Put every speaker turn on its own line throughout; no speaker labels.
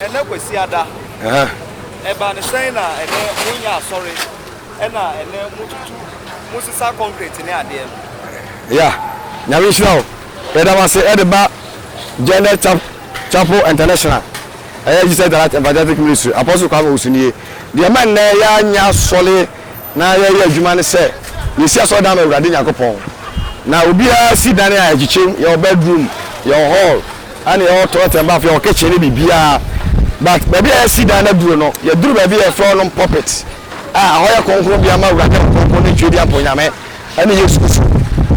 ɛnɛ kwasiada ɛba ne sɛn na ɛnɛ monyɛ asɔre ɛna ɛnɛ motutu mosesa concrete ne adeɛ no ya
nyame nhyira o Yɛda mo ase de ba Gender Chapel International ɛyɛ Jesus the Light Evangelistic Ministry Apostle Kwame Owusu nie. Deɛ ɛma nnɛ yɛanya asɔre na yɛyɛ adwuma ne sɛ yɛsi asɔre dan ma Awurade Nyankopɔn. Na obiara si dan a ɛkyekyem, yɛwɔ bedroom, yɛwɔ hall, ɛne yɛwɔ toilet and bath, yɛwɔ kitchen ne biribiara. But baabi a yɛsi dan no aduro no, yɛduru baabi a yɛfrɛ hɔ nom pulpit a ɛhɔ yɛ kronkronbea ma Awurade Nyankopɔn ne Twedeɛ Mponyame. Ɛne Yesu nso.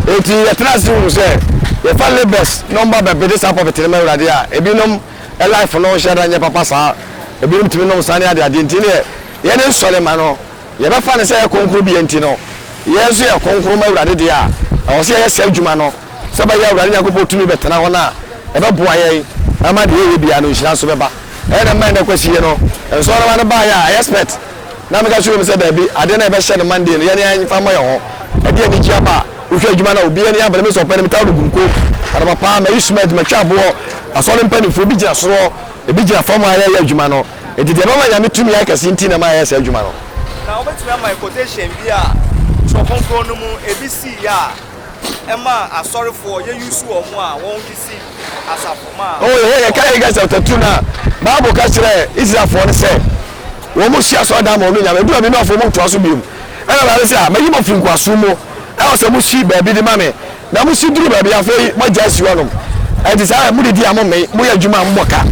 Enti yɛtena ase hunu sɛ yɛfa labels nom ba bɛbede saa pulpit no ma Awurade a, ebinom life no nhyɛ da nyɛ papa saa, ebinom tumi nom nsa ne adeade, enti neɛ yɛde nsɔre ma no, yɛbɛfa no sɛ ɛyɛ kronkron bea nti no, yɛn nso yɛyɛ kronkron ma Awurade deɛ a, ɛwɔ sɛ yɛyɛ saa adwuma no sɛ ɛbɛyɛ a Awurade Nyankopɔn tumi bɛtena hɔ na ɛbɛboa yɛn ama deɛ yɛyɛ biara no nhyira nso bɛba. Ɛyɛ dɛ mma ɛnnɛ kwasie no, nsɔremma no baeɛ a, ɛyɛ spɛt. Na meka kyerɛɛ wɔn sɛ, Dabi, adeɛ no a yɛbɛhyɛ no Monday no, yɛn ara yɛmfa mmɔ yɛn ho. Ɛdeɛn anigyeɛ aba a! Wohwɛ adwuma no a, obiara ani abere, me nso ɔpɛ no, metaa ɔregu nko. Anɔpapa ara, mayi cement, matwa aboɔ, asɔre mpanimfoɔ bi gyina soro, ebi gyina fam a yɛreyɛ adwuma no. Enti deɛ ɛbɛma Nyame tumi ayɛ kɛseɛ nti na ɛma yɛyɛ saa adwuma no. Na wobɛtumi ama yɛn
quotation bi a Twerɛ Kronkron no mu ebi siiɛ a ɛmaa asɔrefoɔ, yɛ use wɔn a wɔn de sii Oh, yɛhwɛ yɛka Haggai
chapter two na Bible ka kyerɛ Israelfoɔ no sɛ wɔn mo si asɔre dan ma wɔn nyame edu baabi na afɔ wɔn ntoa so biom ɛna Awurade sɛ a mayi mo afiri nkoasom mu ɛwɔ sɛ mo si baabi de ma me na mo si duru baabi afei mo agya asi hɔnom ɛnti saa mo didi a mo mmɛn mo yɛ adwuma a mo bɔ ka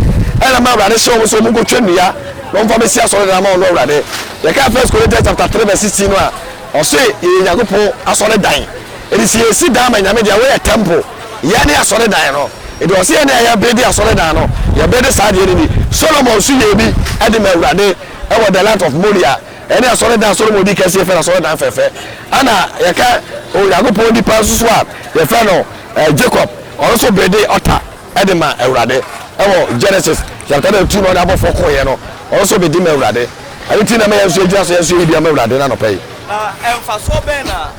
ɛna ma Awurade hyɛ wɔn sɛ wɔn nkotwa nnua na wɔn fa bɛsi asɔre dan ma wɔn Awurade yɛka First Corinthians chapter three verse sixteen no a ɔse yɛyɛ Nyankopɔn asɔre dan ɛdi sɛ yɛsi dan ma nyame deɛ wɔyɛ temple Yɛn ne asɔredan no. Enti ɔse yɛn a yɛbedi asɔredan no, yɛbedi saa adeɛ no bi. Solomon nso yɛɛ bi de maa Awurade wɔ the land of Moriah. Ɛne asɔredan a Solomon di kɛseɛ fɛ no asɔredan fɛfɛ. Ɛna yɛka Onyankopɔn nipa nso so a yɛfrɛ no Jacob, ɔno nso bedi ɔta de maa Awurade wɔ Genesis chapter number two na ɔne abɔfoɔ koeɛ no, ɔno nso bedi maa Awurade. Ɛno nti na ɛma yɛn nso yɛgyina so yɛn nso yɛyi bi ama Awurade no anɔpa yi. Na mfasoɔ
bɛn na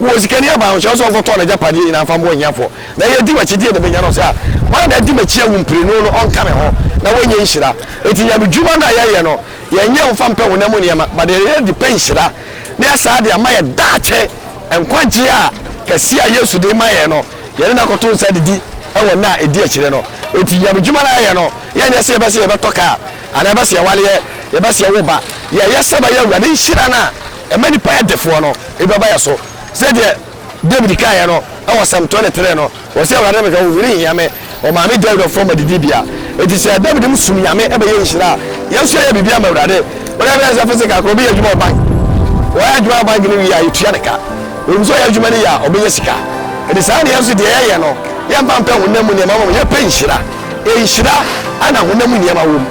Wo osikani aban ho, hyɛ no sɛ ɔnkɔtɔn n'agyapadeɛ nyinaa mfa mmoa ahiafoɔ, na ɛyɛ di w'akyi deɛ na mɛnya no, ɔsɛ a, hwan na adi m'akyi awu mprenu no ɔnka me ho na wanya nhyira? Enti nyamedwuma no a yɛyɛ no, yɛnyɛ mfa mpɛ honam mu nneɛma, but yɛyɛ de pɛ nhyira, na yɛasaa de ama yɛn daakye nkwagyeɛ a kɛseɛ a Yesu de rema yɛn no, yɛne no akɔto nsa adidi wɔ nna a ɛdi akyire no. Enti nyamedwuma no a yɛyɛ no, yɛnyɛ sɛ yɛbɛ sɛ yɛbɛtɔ car, anaa yɛbɛ sɛ yɛwareɛ, yɛbɛ sɛ yɛwo ba, yɛyɛ sɛ ɛbɛyɛ Awurade nhyira no a, Ɛma nnipa yɛ defoɔ no, nnipa ba yɛ so. Sɛdeɛ Dawid kaeɛ no wɔ Psalm twenty three no, ɔse, Awurade ne me hwɛ, ɔhwere nhia me, ɔma me gya werɛ fam m'adidibea. Enti sɛ Dawid no som Nyame ɛbɛyɛ nhyira a, yɛn nso yɛyɛ biribi ama Awurade. Wode ahwɛ a sɛ physical koraa, obi yɛ adwuma wɔ bank, ɔyɛ adwuma wɔ bank no wie a, yɛtua ne ka. Ɛwom sɛ ɔyɛ adwuma no yie a, ɔbɛnya sika. Ɛnti saa na yɛn nso deɛ yɛyɛ no, yɛmfa mpɛ honam mu nneɛma mmom, yɛpɛ nhyira. Nhyira na honam mu nneɛma wom.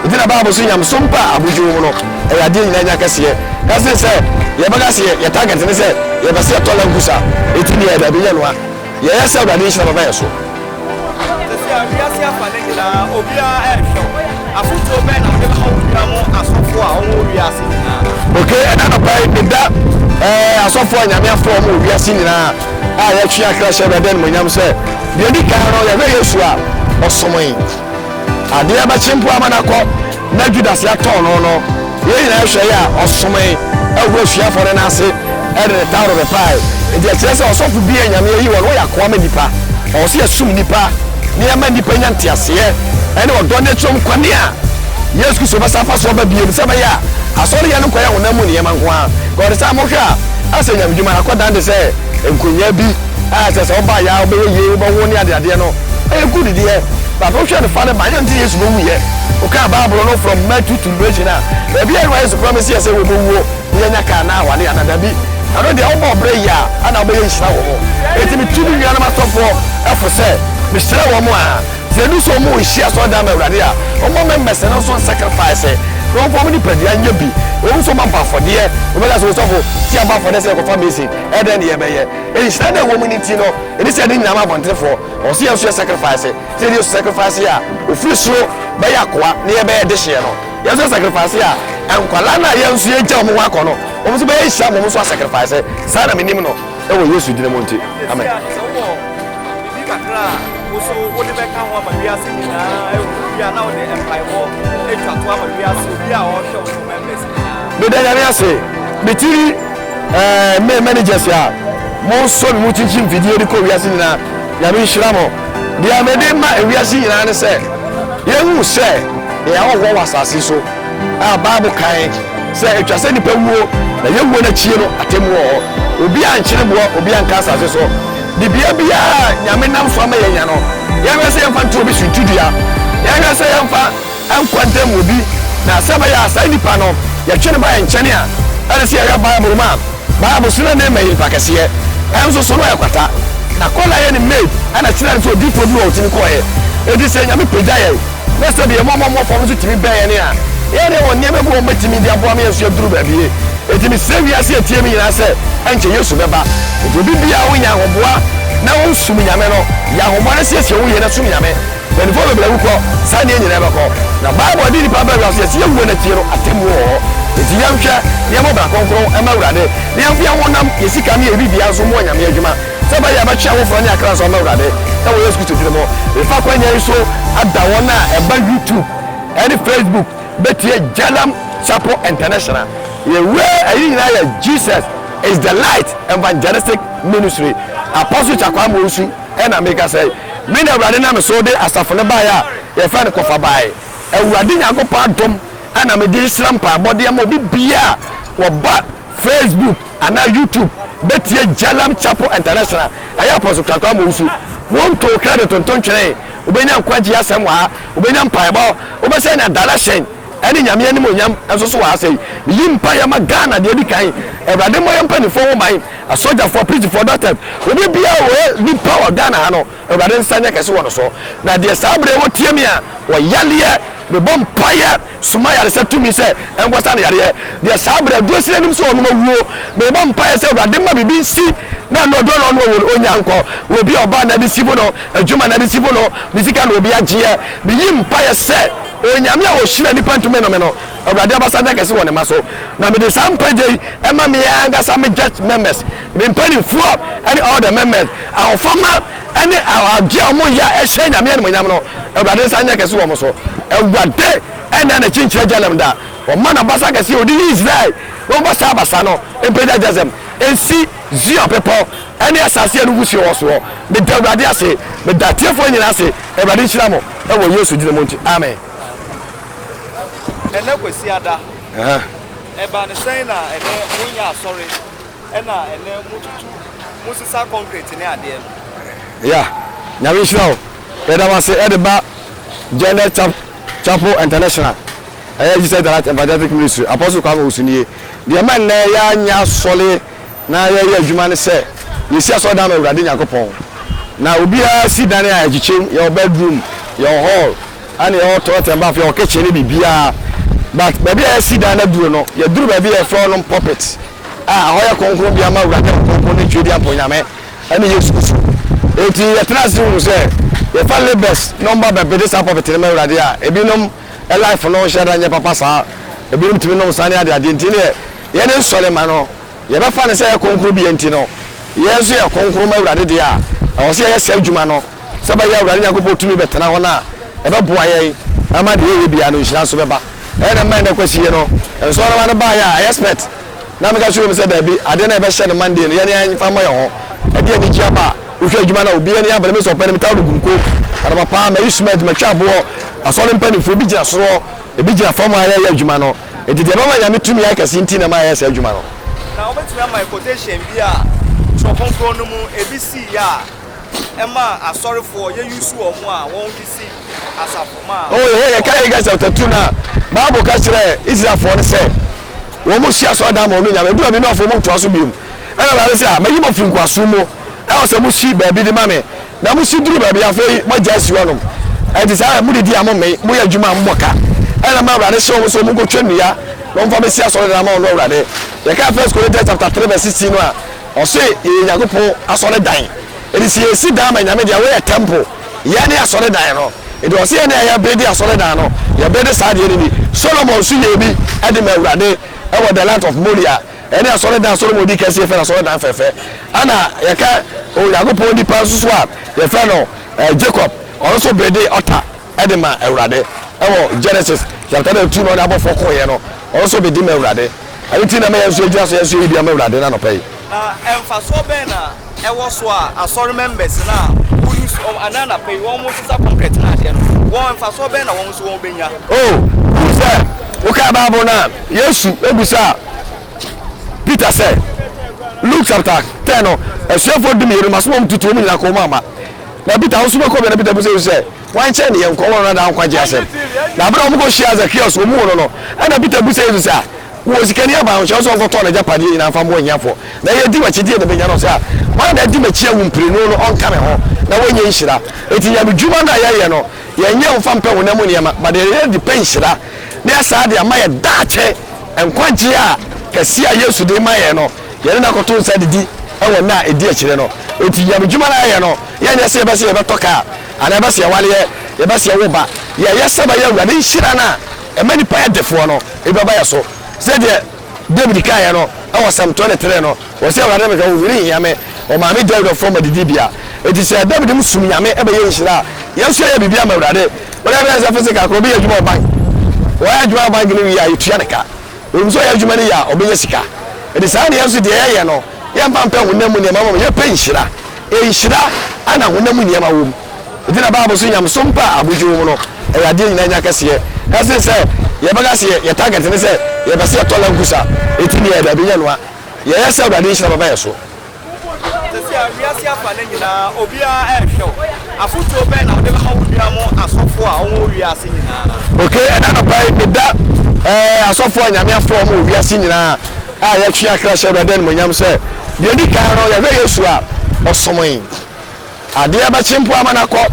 Ntsi na Bible so nyamesom pa a amudzi wɔ mu no, yɛ adeɛ nyina nya kɛseɛ. Ka se sɛ yɛbɛka se yɛ target ne sɛ yɛpɛ sɛ yɛtɔ Land Cruiser a, eti nea yɛyɛ daabi nyɛ no a. Yɛyɛ sɛ Awurade nhyira bɛba yɛn so. Sɛsi a
wiase afa no nyinaa obiara ɛnhwɛ wo. Afotuo bɛn na wode bɛma wo nua mo asɔfoɔ a wɔwɔ wiase
nyinaa no? Ok, ɛna anɔpa yi meda eh, asɔfoɔ a Nyame afrɛ wɔn wɔ wiase nyinaa a yɛtwe akra hyɛ Awurade animuonyam sɛ, deɛ ɛdi kan no yɛhwɛ Yesu a ɔsomoe. Adeɛ bɛkye mpo ama no akɔ, na Judas yɛatɔn no no, yei nyinaa hwɛ yɛ a, ɔsomee wɔ asuafoɔ no nan ase de ne taworo bɛpae. Enti ɛkyerɛ sɛ ɔsɔfo bi a Nyame ayi wɔn no wɔyɛ akoa ma nnipa. Ɛwɔ sɛ yɛsom nnipa na yɛma nnipa nya nteaseɛ ne ɔdɔ ne akyire mu kwane a Yesu Kristo bɛsan afa so aba bio no sɛ ɛbɛyɛ a asɔreyɛ no nkɔyɛ honam mu nneɛma nko ara. Nka wɔde saa a, mohwɛ a, asɛ Nyame dwuma no akɔdan te sɛ nkɔnyaa bi. a ɛsɛ sɛ ɔba yɛ a ɔbɛyɛ yie wobɛwo ne adeadeɛ no ɛyɛ good deɛ but wohwɛ no fa no ba yɛ nti yesu bɛwu yɛ wokaa bible no from matthew to revelation a baabi a ɛwa yesu promise yɛ sɛ wɔbɛwuo ne yɛnya kaa na awale ana dabi ɛno deɛ wobɔ ɔbrɛ yie a ana wobɛyɛ nhyira wɔ mo ɛti metu me nuanom asɔfoɔ ɛfo sɛ mehyira wɔ mo a sɛ ɛdu sɛ ɔmo nhyia sɛ ɔda ma awurade a ɔmo mɛmmɛsɛ no nso sacrifice na ɔmfa ɔmo nipadua nyɛ bi ɔmo nso ɔmo abɔ afɔdeɛ ɔmo bɛka sɛ ɔsɔfo ti abɔ afɔdeɛ sɛ ɛkɔfa mesin ɛdɛn ne yɛbɛyɛ Nhyira no a ɛwɔ mu no nti no, ɛne sɛ yɛde yɛn nyinaa ma abɔntenfoɔ. Ɛwɔ sɛ yɛn nso yɛ sacrifice. Sɛdeɛ Yesu sacrifice a ɔfiri soro bɛyɛ akoa na yɛbɛyɛ dehyeɛ no, yɛn nso yɛ sacrifice a nkwadaa no a yɛn nso yɛagya wɔn hɔ akɔ no, wɔn nso bɛyɛ nhyira ma wɔn nso asacrifice. Saa na menim no wɔ Yesu din mu nti, amen.
Meda Nyame
ase, me tiri eh, me managers a mo nsɔ me mu kyinkyim fidie de kɔ wiase nyinaa, Nyame nhyira mo. Deɛ mede ma ewiase nyinaa ne sɛ, yɛhu sɛ yɛyɛ ahɔhoɔ wɔ asase so a Bible kan sɛ ɛtwa sɛ nipa wuo na yɛwuo no akyie no atemmu wɔ hɔ. Obi ankyere boɔ, obi anka asase so. Dibea biara a Nyame nam so ama yɛanya no, yɛnhwɛ sɛ yɛmfa nto obi so ntudua, yɛnhwɛ sɛ yɛmfa Nkwa ntam mu bi, na sɛ ɛbɛyɛ a saa nipa no, yɛtwe no ba yɛn nkyɛne a, ɛne sɛ yɛhwɛ Bible mu a, Bible so na Naaman yɛ nipa kɛseɛ, ɛnso so na ɔyɛ kwata. Na kɔ na yɛ ne maid ɛna kyerɛ no sɛ odiyifoɔ bi wɔ hɔ ɔtumi kɔeɛ. Enti sɛ Nyame pagya yɛn, na sɛdeɛ yɛn mmɔmmɔmmɔ fam no nso tumi bɛn yɛn a, yɛn deɛ wɔ nneɛma bi wɔ hɔ mɛtumi de aboa ma yɛn nso yɛaduru baabie. Enti mesrɛ wiase a ɛtie me nyinaa sɛ, ɛnkyɛ Yesu bɛba. Enti obi biara wo nya ahoboa na wo som Nyame no, yɛ ahoboa na siesie wo yie na som Nyame. Mpanimfoɔ bebree awu kɔ. Saa nneɛ nyinaa bɛkɔ. Na Bible de nnipa aba wiase sɛ yɛsi awuo no akyire no atemmuo wɔ hɔ. Enti yɛnhwɛ na yɛmmɔ bra kronkron mma Awurade, na yɛmfa yɛn honam, yɛn sika ne yɛn biribiara nso mmɔ Nyame adwuma sɛ ɛbɛyɛ a yɛbɛtwe ahohora ne akra so ama Awurade wɔ Yesu Kristo din mu. Mefa akwanya yi so da wɔn a ɛba YouTube ne Facebook bɛtie Jalam Chapel International. Yɛn wura ayi nyinaa yɛ Jesus is the Light Evangelistic Ministry, Apostle Chakwamwonsu. Ɛnna meka sɛ, Me na Awurade nam me so de asafo no baeɛ a yɛfrɛ no kɔfa baeɛ. Awurade Nyankopɔn adom na mede rehyira mpaebɔ de ama obi biara a ɔba Facebook anaa YouTube bɛtie Jalam Chapel International. Ɛyɛ Apostle Krakow Amowu so. Wonto credit nto ntwene. Wobɛnya nkwagyeɛ asɛm wɔ ha. Wobɛnya mpaebɔ. Wobɛsɛn adarashen ne Nyame animuonyam nso so wɔ ha. Sɛ yi, meyi mpaeɛ ma Ghana deɛ ɛdi kan. Awurade mmɔ yɛn mpanimfoɔ ho ban. Asogyafoɔ, aprizifoɔ, dɔktɛs, obi biara ɔyɛ nipa wɔ Ghana ha no, Awurade nsa nyɛ kɛse wɔ no so. Na deɛ saa berɛ yi wɔtie me a, wɔ yareɛ, mebɔ mpaeɛ, soma yaresɛ tumi sɛ ɛnkɔsa no yareɛ. Deɛ saa berɛ aduro sini anim sɛ ɔnom awuo, mebɔ mpaeɛ sɛ Awurade ma biribi nsi na ɛno ɔduro na ɔnom awuo no, ɔnya nkɔ. Wɔ obi a ɔbaa na ɛde si bo no, adwuma na ɛde si bo no, ne sika na obi agyeɛ. Meyi mpaeɛ sɛ Onyame a ɔhyira nnipa ntumi nnome no, Awurade abasa nyɛ kɛse wɔ ne mma so. Na mede saa nkwagye yi ma me ankasa me gyɛt mɛmɛs, me mpaninfoɔ ne ɔɔdɛ mɛmɛs, ahofama ne agye a wɔn yɛ a hyɛ Nyame animonyam no, Awurade nsa nyɛ kɛse wɔ wɔn so. Awurade nna n'akyi nkyerɛ Jalem da, wɔma n'abasa kɛseɛ a ɔde yi Israel no bɔ saa abasa no mpagya Jazem nsi Zion bepɔ ne asase a nufusuo wɔ soɔ. Meda Awurade ase, meda atiefoɔ nyinaa ase, Awurade nhyira mo wɔ Yesu dini mu nti, amen.
Ɛnɛ Kwasiada. Ɛha. Ɛbaa no sɛn na ɛnɛ monyɛ asɔre ɛna ɛnɛ motutu mosesa concrete ne adeɛ no? Yeah.
Nyame nhyira wo. Yɛda mo ase ɛde ba Gender Chap Chapel International ɛyɛ Jesus Delight Evangelical Ministry Apostle Kwame Owusu nie. Deɛ ɛma nnɛ yɛanyɛ asɔre. na yɛyɛ adwuma ne sɛ yɛsi asɔredan ma Awurade Nyankopɔn. Na obiara si dan a ɛkyekyem, yɛwɔ bedroom, yɛwɔ hall, ɛne yɛwɔ toilet and bath, yɛwɔ kitchen ne biribiara. But baabi a yɛasi dan no aduro no, yɛduru baabi a yɛfrɛ hɔnom pulpit a ɛhɔ yɛ kronkronbea ma Awurade Ɔkronkron ne Tweadiampɔ Nyame ɛne Yesu Kristo. Enti yɛtena ase hunu sɛ yɛfa labours na wɔba bɛbede saa pulpit no ma Awurade a, ebinom life no nhyɛda nyɛ papa saa, ebinom tumi nom nsa ne adeade, nti neɛ Yɛn nsɔremma no, yɛbɛfa no sɛ ɛyɛ kronkronbea nti no, yɛn nso yɛ kronkron ma Awurade deɛ a, ɛwɔ sɛ yɛyɛ saa adwuma no sɛdeɛ ɛbɛyɛ a Awurade Nyankopɔn tumi bɛtena hɔ na ɛbɛboa yɛn ama deɛ yɛyɛ biara no nhyira nso bɛba. Ɛyɛ dɛ mma ɛnnɛ kwasie no, nsɔremma no baeɛ a, ɛyɛ spɛt? Na meka kyerɛɛ wɔn sɛ, Dabi, adeɛ no a yɛbɛhyɛ no Monday no, yɛn ara yɛmfa mmɔ yɛn ho. Ɛde anigyeɛ aba. Wohwɛ adwuma no a, obiara ani abere. Me nso, ɔpɛ no, metaa no guruko. Anɔpa pa ara, mayi cement, matwa aboɔ. Asɔre mpanimfoɔ, ebi gyina soro hɔ, ebi gyina fam a yɛreyɛ adwuma no. Enti deɛ mama Nyame tumi ayɛ kɛseɛ nti na mayɛ saa adwuma no. Na wobɛtumi ama me
quotation bi a Twerɛ Kronkron no mu ebi siiɛ a ɛma asɔrefoɔ yɛ use wɔn a wɔde si asafo ma a. Oh yɛ yɛ ka Haggai
chapter two na Bible ka kyerɛ Israelfoɔ no sɛ wɔn si asɔredan ma wɔn Nyame. Edu baabi na ɔfo wɔn ntoa so bio mu. Ɛna Awurade sɛ ah mayi mo afiri nkoasom mu. Ɛwɔ sɛ mo si baabi de ma me Na mo si duru baabi a, afei moagya asi hɔ anom. Enti saa ara na modidi a mommee, moyɛ adwuma a mommɔ ka. Ɛnam a Awurade hyɛɛ wɔn sɛ wɔnkɔtwa nnua na wɔmfa mmɛsi asɔredan ama ɔno Awurade. Yɛkaa First Corinthians chapter three verse sixteen no a, ɔse yɛyɛ Nyankopɔn asɔredan. Enti sɛ yɛsi dan ma Nyame de a, woyɛ temple. Yɛn ne asɔredan no. Enti ɔse yɛn na yɛbede asɔredan no, yɛbede saa adeɛ no bi. Solomon nso yɛɛ bi de maa Awurade wɔ the land of Moriah. Ɛne asɔredan a Solomon dii kan sii yɛfrɛ no asɔredan fɛfɛ. Ɛna yɛka Onyankopɔn nipa nso so a yɛfrɛ no Jacob, ɔno nso bedee ɔta de ma Awurade. Ɛwɔ Genesis chapter number two na ɔne abɔfoɔ kɔeɛ no, ɔno nso bedi ma Awurade. Ɛno nti na ɛma yɛn nso yɛgyina so yɛn nso yɛyi bi ama Awurade no anɔpa yi. Na mfasoɔ
bɛn na ɛwɔ so a Asɔre members no a wo use ɛnɛ anapa yi wɔn sesa concrete no adeɛ no wɔn mfasoɔ bɛn na wɔn nso wɔn bɛnya. O hu sɛ
wokaa Bible no a Yesu bisaa Peter sɛ Luke chapter ten no asuafoɔ dumienu no maso wɔn tutu wɔn nyinaa kɔn mu ama na Peter wo nso bɛkɔ bɛ na Peter bisa Yesu sɛ. Wɔankyɛr no, yɛnkɔɔ hɔ na daa nkwagye asɛm. Na aber a wɔkɔhyiaa Zacchaeus wɔ mu hɔ no no, nna Peter bisa Yesu dɛ, Wowɔ sika ne aban a, nhyɛ wo sɛ ɔnkɔtɔn n'egyapadeɛ nyina mfa mboa ehiafoɔ, na yɛ di w'akyidie na benya no ɔsɛ a, ma na di m'akyi awu mprenu no ɔnka me ho, na wanya nhyira. Enti nyamedwuma no a yɛyɛ no, yɛnyɛ ɔmfa mpɛ honam mu nneɛma, but yɛyɛ de pɛ nhyira, na yɛasaa de ama yɛ daakye nkwagye a kɛseɛ a Yesu de rema yɛn no, yɛne no akɔto nsa adidi wɔ nna a ɛdi akyire no. Enti nyamedwuma no a yɛyɛ no, yɛnyɛ sɛ yɛbɛ sɛ yɛbɛtɔ kaa, Anaa yɛbɛsɛ yɛware yɛ, yɛbɛsɛ yɛwo ba, yɛyɛ sɛ bɛyɛ awura ne nhyira no a ɛma nnipa yɛ defoɔ no, ebi bɛba yɛ so. Sɛdeɛ Dawid kaeɛ no wɔ Psalm twenty three no, ɔse, Awurade na mehwɛ, ohoni nhia me, ɔmaa me gya wura fam adidibea. Enti sɛ Dawid mu som Nyame bɛyɛ nhyira a, yɛn nso yɛyɛ biribi ama Awurade. Wode hwɛ a sɛ physical koraa, obi yɛ adwuma wɔ bank, ɔyɛ adwuma wɔ bank no wie a, yɛtua no ka. Onim sɛ ɔyɛ adwuma no yie a, ɔbɛnya sika. Ɛnti saa na yɛn nso deɛ yɛyɛ no, yɛmma mpɛ honam mu nneɛma mmom yɛpɛ nhyira. Nhyira na honam mu nneɛma wɔ mu. Ɛnti na Bible so nyamesom pɛ a abodwo wɔ mu no, ɛyɛ adeɛ nyinaa nya kɛseɛ. Na sene sɛ yɛbɛka sɛ yɛn target ne sɛ yɛpɛ sɛ yɛtɔ lankusa, ɛti ne yɛyɛ daabi, nyɛ noa. Yɛyɛ sɛ Awurade nhyira bɛba yɛn so.
Sɛsi a wiase afa no nyinaa obiara nhwɛ wo. Afotuo bɛn na wode bɛma wo nua mo asɔfoɔ a wɔwɔ wiase
nyinaa? Ok, ɛna anɔpa yi meda eh, asɔfoɔ a Nyame afrɛ wɔn wɔ wiase nyinaa a yɛtwe akra hyɛ Awurade animuonyam sɛ, deɛ ɛdi kan no yɛhwɛ Yesu a ɔsomoe, adeɛ bɛkye mpo ama no akɔ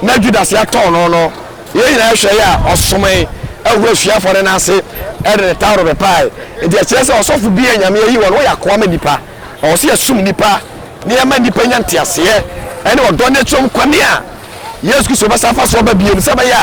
na Judas atɔn no no, yɛn nyinaa hwɛ yɛ a ɔsomoe, ahu asuafoɔ no nan ase de ne taworo bɛpae, enti ɛkyerɛ sɛ ɔsɔfo bi a Nyame ayi wɔn no wɔyɛ akoa ma nnipa. Ɔwɔ sɛ yɛsom nnipa na yɛma nnipa nya nteaseɛ ne ɔdɔ ne kyerɛm kwane a Yesu Kristo bɛsan afa so aba bio no sɛ ɛbɛyɛ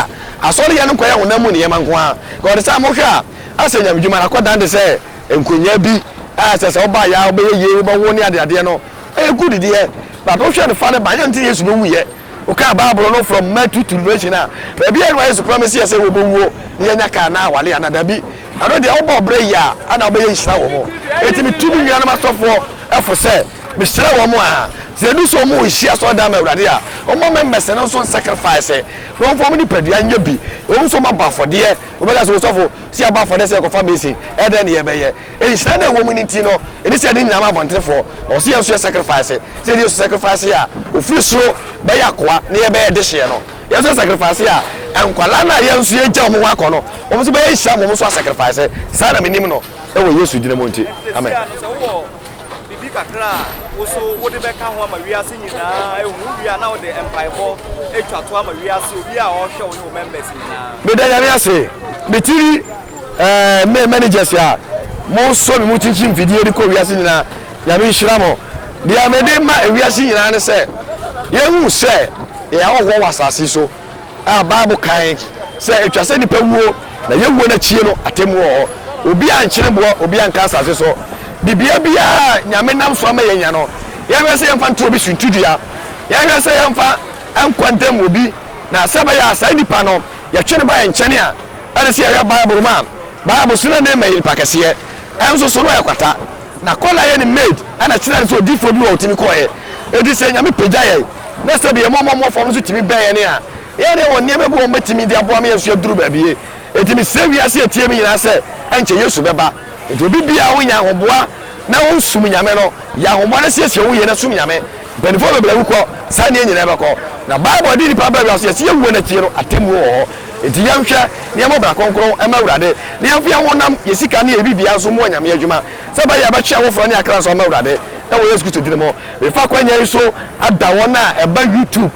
a asɔreyɛ no nkɔyɛ honam mu nneɛma nko ara. Nka wɔde sɛ a mohwɛ a asɛ nyame dwuma no akɔdan te sɛ nkonnwa bi a sɛ sɛ wobaeɛ a wobɛyɛ yie, wobɛwo ne adeadeɛ no. Ɛyɛ good deɛ but wohwɛ no fa no ba yɛ nti na Yesu bɛwuiɛ. Wokaa Bible no from Matthew to Revelation a, baabi a nna Yesu promise yɛ sɛ wɔbɛwuo na yɛanya car anaa aware anaa dabi? Ɛno deɛ wobɔɔ brɛ yie a ɛna wobɛyɛ nhyira wɔ mo. Enti metu me nuanom asɔfoɔ fo sɛ mehyira wɔn a sɛ ɛdu sɛ wɔn nhyia asɔredan ma Awurade a, wɔmmɔ members no nso nsacrifice na wɔmfa wɔn nipadua nyɛ bi. Ɛwɔ mu sɛ wɔabɔ afɔdeɛ, wobɛka sɛ osɔfo, sɛ yɛabɔ afɔdeɛ sɛ yɛkɔfa basin, ɛdɛn na yɛbɛyɛ? Nhyira no a ɛwɔ mu no nti no, ɛne sɛ yɛde yɛn nyinaa ma abɔntenfoɔ. Ɛwɔ sɛ yɛn nso yɛ sacrifice. Sɛ yɛde Yesu sacrifice a ɔfiri soro bɛyɛ akoa na yɛbɛyɛ dehyeɛ no, yɛn nso yɛ sacrifice a nkwadaa no a yɛn nso yɛagya wɔn hɔ akɔ no, wɔn nso bɛyɛ nhyira ma wɔn nso asacrifice. Saa na menim no wɔ Yesu din mu nti, amen.
biribi kakra a wo so wode bɛka ho ama wiase nyinaa ehu wie a na wode mpaebɔ atwa to ama wiase obi a ɔhwɛ wo ne wo members nyinaa. meda nyame ase
metiri Ɛɛ me managers a mo sɔ me mu kyinkyin mfidie de kɔ wiase nyinaa nyame nhyira mo deɛ me de ma ewiase nyinaa ne sɛ yɛ hu sɛ yɛ ahɔhoɔ wɔ asase so a bible kan sɛ etwa sɛ nipa wuo na yɛ wuo na kyie no atemu wɔ hɔ obi a nkyene boɔ obi a nka asase so de bia bia nyame nam so ama yɛ nya no yɛ hwɛ sɛ yɛ mfa nto obi so ntu dua yɛ hwɛ sɛ yɛ mfa nkwa ntam obi na sɛ bɛyɛ a saa nipa no yɛ twe ne ba yɛ nkyɛne a Ɛne sɛ yɛhwɛ Bible no mu a, Bible so na Naaman yɛ nipa kɛseɛ, ɛnso so na ɔyɛ kwata. Na kɔ na yɛ ne maid na kyerɛ no sɛ odiyifoɔ bi wɔ hɔ a ɔtumi kɔeɛ. Enti sɛ Nyame pagya yɛn na sɛbi yɛn mmɔmmɔmmɔ fam no nso tumi bɛn yɛn a, yɛn deɛ wɔ nneɛma bi wɔ hɔ a wɔbɛtumi de aboa ma yɛn nso yɛaduru baabi. Enti mesrɛ wiase a ɛteɛ me nyinaa sɛ ɛnkyɛ Yesu bɛba. Enti obi biara wo nya ahoboa na wo som Nyame no, yɛ ahoboa na siesie wo yie na som Nyame. Mpanimfoɔ bebree awu kɔ, saa nneɛ nyinaa bɛkɔ. Na Bible de nnipa aba wiase, yɛse yɛwuo no akyire no atemmuo wɔ hɔ. Enti yɛnhwɛ na yɛmmɔ bra kronkron mma Awurade, na yɛmfa yɛn honam, yɛn sika ne yɛn biribiara nso mmɔ Nyame adwuma, sɛ ɛbɛyɛ a yɛbɛtwe ahohora ne yɛn akra nso ama Awurade, na wɔ Yesu Kristo din mu mefa akwanya yi so ada wɔn a ɛba YouTube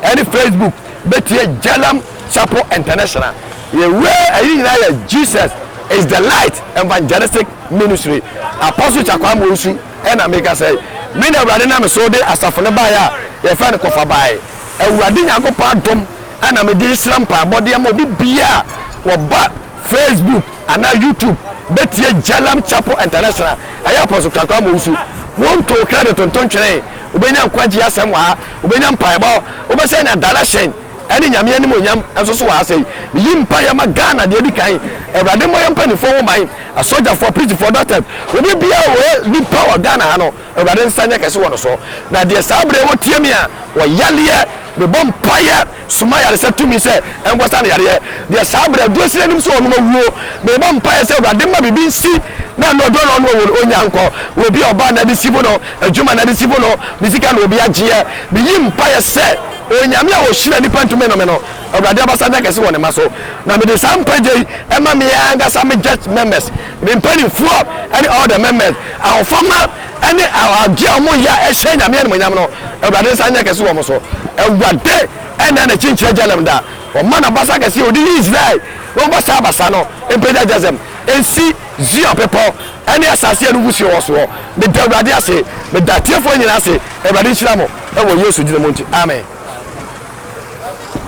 ne Facebook bɛtie Jalam Chapel International Yɛwura ayi nyinaa yɛ Jesus is the Light Evangelistic Ministry Apostle Kyakwaa Mowusu. Ɛnna meka sɛ, Me na Awurade nam me so de asafo no baeɛ a yɛfrɛ no kɔfa baeɛ. Awurade Nyankopɔn adom na mede rehyira mpaebɔ de ama obi biara a ɔba Facebook anaa YouTube bɛtie Jalam Chapel International. Ɛyɛ Apostle Twaku Amowu so. Wonto krɛdit nto ntwene. Wobɛnya nkwagyeɛ asɛm wɔ ha. Wobɛnya mpaebɔ. Wobɛsɛn adana hyɛn. ɛne Nyame animuonyam nso so wɔ ha sɛi. Meyi mpaeɛ ma Ghana deɛ ɛdi kan, Awurade mmɔ yɛn mpaninfoɔ ho ban, asogyafoɔ, aprigifoɔ, doctors, obi biara a ɔyɛ nipa wɔ Ghana ha no, Awurade nsa nyɛ kɛse wɔ no so. Na deɛ saa berɛ yi wɔtie me a, wɔyareɛ, mebɔ mpaeɛ, soma yaresɛ tumi sɛ ɛnkɔ sa no yareɛ. Deɛ saa berɛ aduro sini anim sɛ ɔnom awuo, mebɔ mpaeɛ sɛ Awurade mma biribi nsi na ɛno aduro na ɔnom awuo no, ɔnnya nkɔ. Obi a ɔbaa no ade si bo no, adwuma no ade si bo no, ne sika na obi agyeɛ. Meyi mpaeɛ sɛ Onyame a ɔhyira nnipa ntumi nnome no, Awurade abasa nyɛ kɛse wɔ ne mma so. Na mede saa nkwagye yi ma me ankasa me gyɛt mɛmɛs, me mpaninfoɔ ne ɔɔl dɛ mɛmɛs, ahofama ne aɔgye a wɔn yɛ a ɛhyɛ Nyame animuonyam no, Awurade nsa nyɛ kɛse wɔ wɔn so. Awurade nna n'akyi nkyerɛ Jalem da, ɔma n'abasa kɛseɛ a ɔde yi Israel no bɔ saa abasa no mpagya Jazem nsi. Zion bepɔw ne asase a ɛno wusee wɔ soɔ. Meda Awurade ase. Meda atiefoɔ nyinaa ase. Awurade nhyira mo wɔ Yesu dini mu nti. Amen.